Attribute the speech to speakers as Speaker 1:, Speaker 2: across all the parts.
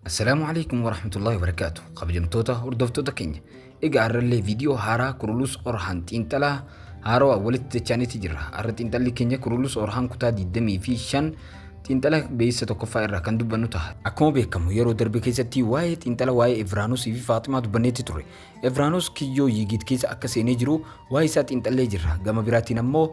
Speaker 1: Assalaamu alaikum warahmatullahi wabarakaatu kabajamtoota hordoftoota keenya egaa har'allee viidiyoo haaraa kurulus orhaan xiinxalaa haarawaa walitti dachaaniitti jirra har'a xiinxalli keenya kurulus orhaan kutaa 25 xiinxala beeysa tokkoffaa irraa kan dubbannu ta'a akkuma beekamu yeroo darbe keessatti waa'ee xiinxala waa'ee Evraanus fi Faaximaa dubbanneetti ture Evraanus kiyyoo yiigiit keessa akka seenee jiru waa'ee isaa xiinxallee jirra gama biraatiin ammoo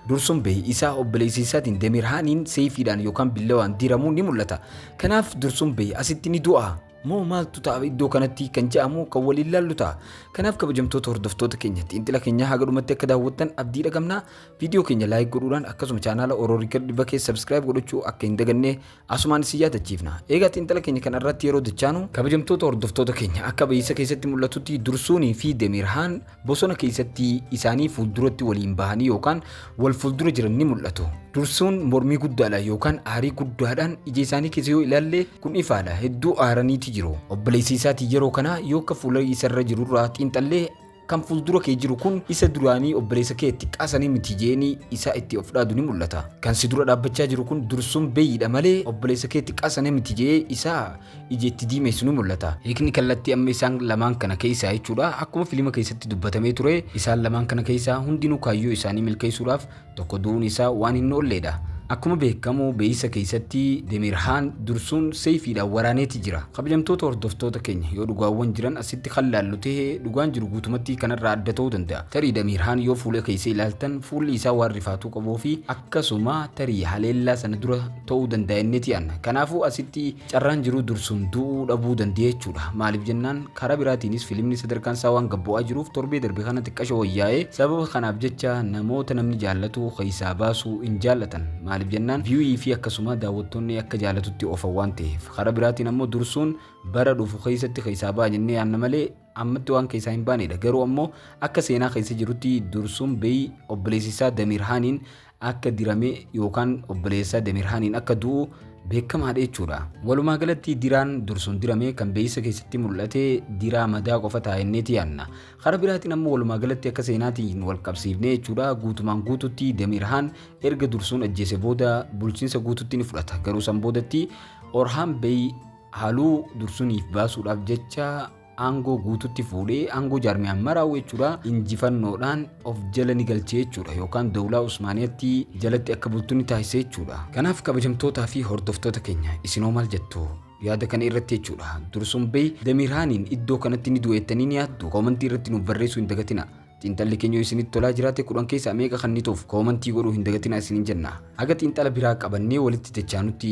Speaker 1: Dursun bahe isaa obboleessa isaatiin Demirhaaniin seefiidhaan yookaan billawaan diramuun ni mul'ata. Kanaaf Dursun bahe asitti ni du'a. Moo maaltu ta'a iddoo kanatti kan ja'amu kan waliin laallu ta'a. Kanaaf kabajamtoota hordoftoota keenya xiinxila keenyaa haga dhumatti akka daawwattan abdii dhagamna. Viidiyoo keenya laayik godhuudhaan akkasuma chaanaala Oroorikar Diva keessa sabskiraayib godhachuu akka hin daganne Asumaan isin yaadachiifna. Eegaa xiinxala keenya kana irratti yeroo dachaanu kabajamtoota hordoftoota keenya akka bahiisa keessatti mul'atutti dursuunii fi demirhaan bosona keessatti isaanii fuulduratti waliin bahanii yookaan wal fuuldura jiran ni mul'atu. Dursuun mormii guddaadhaan yookaan aarii guddaadhaan ija isaanii keessa yoo ilaalle kun ifaadha hedduu aaraniiti jiru. Obboleessa isaatiin yeroo kana yoo akka fuula isarra jirurraa xiinxallee Kan fuuldura kee jiru kun isa duraanii obboleessa kee xiqqaa sanii miti jeeni isaa itti of dhaadu ni mul'ata. Kan si dura dhaabbachaa jiru kun dursuun beeyiidha malee obboleessa kee xiqqaa sana miti jee isaa ija itti diimeessu ni mul'ata. Hiikni kallattii amma isaan lamaan kana keessaa jechuudha. Akkuma filima keessatti dubbatamee ture isaan lamaan kana keessaa hundinuu kaayyoo isaanii milkeessuudhaaf Tokko du'uun isaa waan hin oolleedha. Akkuma beekamu beeysa keeysatti Demirhaan dursuun seeyfiidhaan waraaneeti jira. Kabajamtoota hordoftoota keenya yoo dhugaawwan jiran asitti kan laallu tahe dhugaan jiru guutumattii kanarraa adda tahuu danda'a. Tarii Demirhaan yoo fuula keeysa ilaaltan fuulli isaa waan rifaatuu qabuufi akkasuma tarii haleellaa sana dura tahuu danda'a jenneeti yaanna. Kanaafuu asitti Carraan jiruu dursuun du'uu dhabuu danda'e jechuudha. Maaliif jennaan karaa biraatiinis filimni sadarkaan isaa waan gad bu'aa jiruuf torbee darbe kana xiqqasho wayyaa'e. Sababa kanaaf jecha namoota namni jaallatu keessaa baasuu hin jaallatan. Maaliif jennaan view fi akkasuma daawwattoonni akka jaallatutti oofan waan ta'eef. Karaa biraatiin ammoo dursuun bara dhufu keessatti keessaa ba'a jennee yaanna malee ammatti waan keessaa hin baanedha. Garuu ammoo akka seenaa keessa jirutti dursuun beyi obboleessi isaa Damiir Haaniin akka dirame yookaan obboleessa Demirhaaniin akka du'u beekamaadha jechuudha. Walumaa galatti diraan dursuun dirame kan beeysa keessatti mul'ate diraa madaa qofa taa'enneeti yaanna. Kara biraatiin ammoo walumaa galatti akka seenaatiin wal qabsiifne jechuudha guutumaan guututti Demirhaan erga dursuun ajjeese booda bulchiinsa guututti ni fudhata. Garuu san boodatti Orhaan Bey haluu dursuniif baasuudhaaf jecha aangoo guututti fuudhee aangoo jaarmiyaan maraa'u jechuudha injifannoodhaan of jala ni galche jechuudha yookaan dawlaa usmaaniyatti jalatti akka bultu ni taasise jechuudha kanaaf kabajamtootaa fi hordoftoota keenya isinoo maal jettu yaada kana irratti jechuudha dursuun bey damiirhaaniin iddoo kanatti ni du'eettanii ni yaaddu koomantii irratti nuuf barreessuu hin dagatina xiinxalli keenya isinitti tolaa jiraate kudhan keessaa meeqa kannituuf koomantii godhuu hin dagatina isinin jenna haga xiinxala biraa qabannee walitti dachaanutti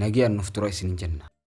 Speaker 1: nagayaan nuuf tura isinin jenna